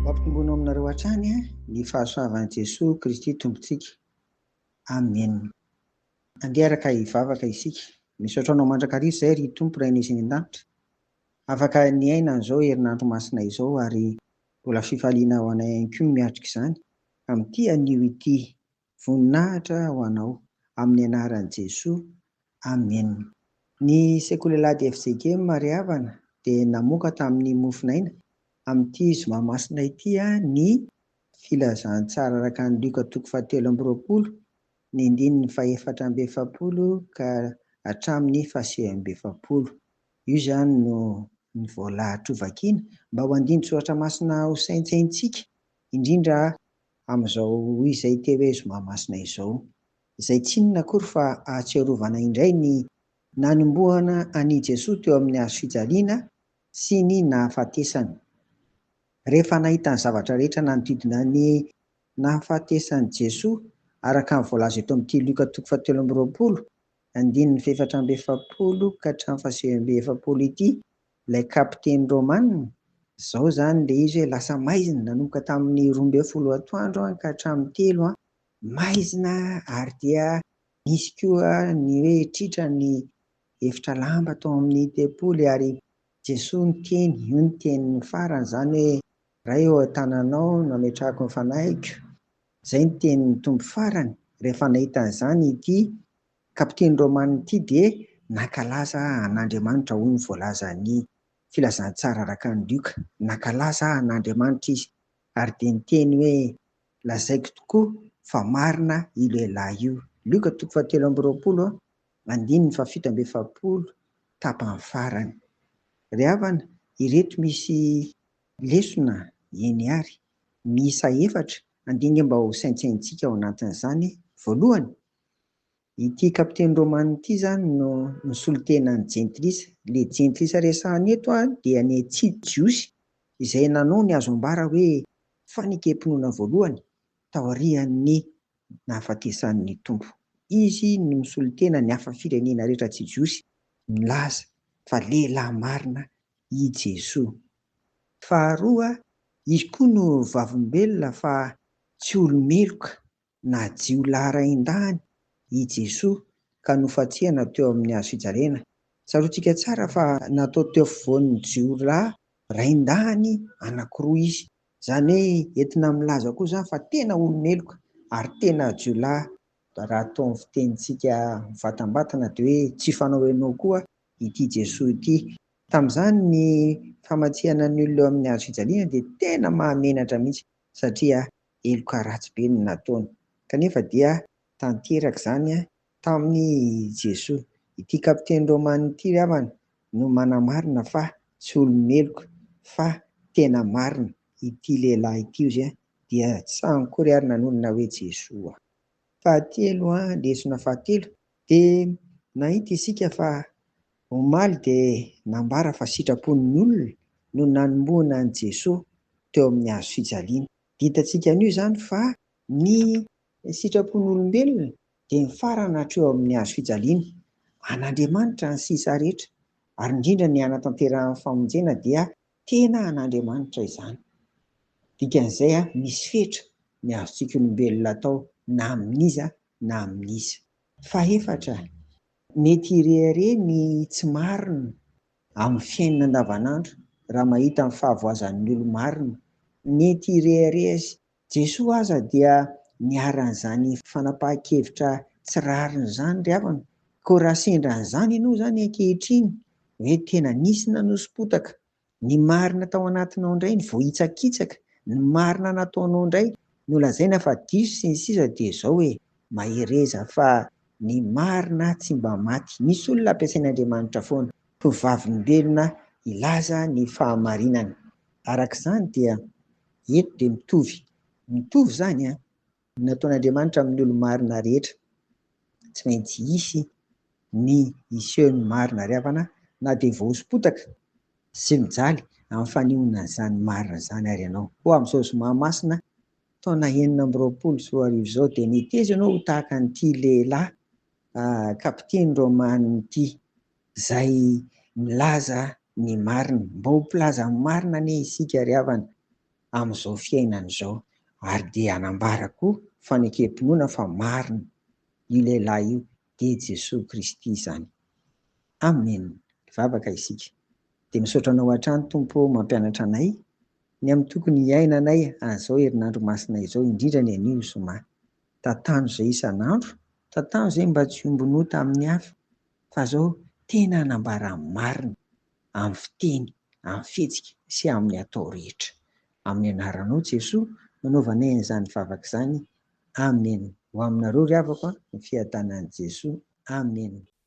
Mampitomboina aminareo hatrany ny fahasoavan'i Jesoa Kristy Tompontsika. Amen. Andeha araka hivavaka isika. Misaotra Anao mandrakariva izay ry Tompo Rainay izay any an-danitra. Afaka niaina an'izao herinandro masina izao ary mbola fifaliana ho anay ihany koa ny miatrika izany amin'ity anio ity. Voninahitra ho anao. Amin'ny anaran'i Jesoa. Amen. Ny Sekolelad'i FJG Marehavana dia namoaka tamin'ny mofonaina, amin'ity zoma masina ity, ny Filazantsara araka an'i Lioka toko fahatelo amby roapolo, ny andininy fahefatra amby efapolo ka hatramin'ny fahasivy amby efapolo. Io izany no ny voalahatra hovakiana, mba ho andinin-tsoratra masina hosaintsaintsika, indrindra amin'izao izay te hoe zoma masina izao, izay tsy inona akory fa ahatsiarovana indray ny nanombohana an'i Jesoa teo amin'ny hazo fijaliana sy ny nahafatesany. Rehefa nahita ny zavatra rehetra nanodidina ny nahafatesan'i Jesoa, araka ny voalaza eto amin'ity Lioka toko fahatelo amby roapolo, andininy fahefatra amby efapolo ka hatramin'ny fahasivy amby efapolo ity, Ilay kapiteny Romana, izao izany ilay izy hoe, lasa maizina, nanomboka tamin'ny roa ambin'ny folo atoandro ka hatramin'ny telo, maizina ary dia nisy koa ny hoe tritra ny efitra lamba tao amin'ny tempoly ary Jesoa niteny, io ny teniny farany izany hoe, Ray ô, an-tananao no ametrahako ny fanahiko, izay ny tenin'ny Tompo farany, rehefa nahita an'izany ity Kapiteny Romanina ity dia nankalaza an'Andriamanitra, hoy ny voalazan'ny Filazantsara araka an'i Lioka. Nankalaza an'Andriamanitra izy, ary dia niteny hoe, Lazaiko tokoa fa marina io lehilahy io. Lioka toko fahatelo amby roapolo, andininy fahafito amby efapolo, tapany farany. Ry havana, ireto misy lesona eny àry, miisa efatra, andinika mba ho saintsaintsika ao anatin'izany. Voalohany, Ity kapiteny romana ity izany no nisolo tena an'i Jentilisa. Ilay Jentilisa resahina eto dia ny tsy Jiosy izay nanao ny azo ambara hoe fanekem-pinoana voalohany taorian'ny nahafatesan'ny Tompo. Izy no nisolo tena ny hafa firenena rehetra tsy Jiosy nilaza fa lehilahy marina i Jesoa. Faharoa, izy koa no vavolombelona fa tsy olo-meloka Na jiolahy rain-dahiny i Jesoa ka nofantsihana teo amin'ny hazo fijaliana. Tsaroantsika tsara fa natao teo afovoan'ny jiolahy rain-dahiny anankiroa Izy. Izany hoe entina milaza koa izany fa tena olo-meloka ary tena jiolahy. Raha atao amin'ny fitenintsika mivatambatana dia hoe tsy ifanao ianao koa ity Jesoa ity. Tamin'izany ny famantsihana ny olona eo amin'ny hazo fijaliana dia tena mahamenatra mihitsy satria heloka ratsy be no nataony. Kanefa dia tanteraka izany tamin' i Jesoa. Ity kapiteny rômana ity ry havana no manamarina fa tsy olo-meloka fa tena marina ity lehilahy ity ozy dia tsy ankory ary nanonona hoe Jesoa. Fahatelo, lesona fahatelo, dia nahita isika fa omaly dia nambara fa sitrapon' ny olona no nanombohana an' i Jesoa teo amin' ny hazo fijaliana. Dia hitantsika anio izany fa ny sitrapon'olombelona dia mifarana hatreo amin'ny hazo fijaliana. An'Andriamanitra ny sisa rehetra, ary indrindra ny hanatanterahan'ny famonjena dia tena an'Andriamanitra izany. Dikan'izay, misy fetra ny azontsika olombelona atao na amin'iza na amin'iza. Fahefatra, mety hirehareha ny tsy marina. Amin'ny fiainana andavanandro, raha mahita ny fahavoazan'ny olo-marina nety hirehareha sy Jesoa aza dia niharan'izany fanapahan-kevitra tsy rariny izany ry havana, koa raha sendra an'izany ianao izany ankehitriny hoe tena nisy nanoso-potaka ny marina tao anatinao indray ny voahitsakitsaka ny marina nataonao indray no lazaina fa diso sy ny sisa dia izao e! Mahereza fa ny marina tsy mba maty. Misy olona ampiasain'Andriamanitra foana ho vavolombelona hilaza ny fahamarinana. Araka izany dia eto dia mitovy mitovy izany an! Ny nataon'Andriamanitra amin'ny olo-marina rehetra. Tsy maintsy hisy ny hisehon'ny marina ary havana na dia voahoso-potaka sy mijaly amin'ny fanehoana izany marina izany ary ianao. Hoy amin'izao zoma masina taona enina amby roapolo sy roa arivo izao dia neteza ianao ho tahaka an'ity lehilahy kapiteny Romano ity izay milaza ny marina. Mba ho mpilaza ny marina anie isika ry havana amin'izao fiainana izao ary dia hanambara koa fanekem-pinoana fa marina io lehilahy io dia Jesoa Kristy izany. Amen! Vavaka isika. Dia misaotra anao hatrany Tompo ô mampianatra anay ny amin'ny tokony hiainanay azao herinandro masina izao indrindra ny anio zoma. Tantano izay isan'andro, tantano izay mba tsy hombin'ota amin'ny hafa fa zao tena hanambara ny marina amin'ny fiteny, amin'ny fihetsika sy amin'ny atao rehetra. Amin'ny anaranao Jesoa no anaovanay an'izany vavaka izany. Amen! Ho aminareo ry havako a, ny fiadanan'i Jesoa. Amen!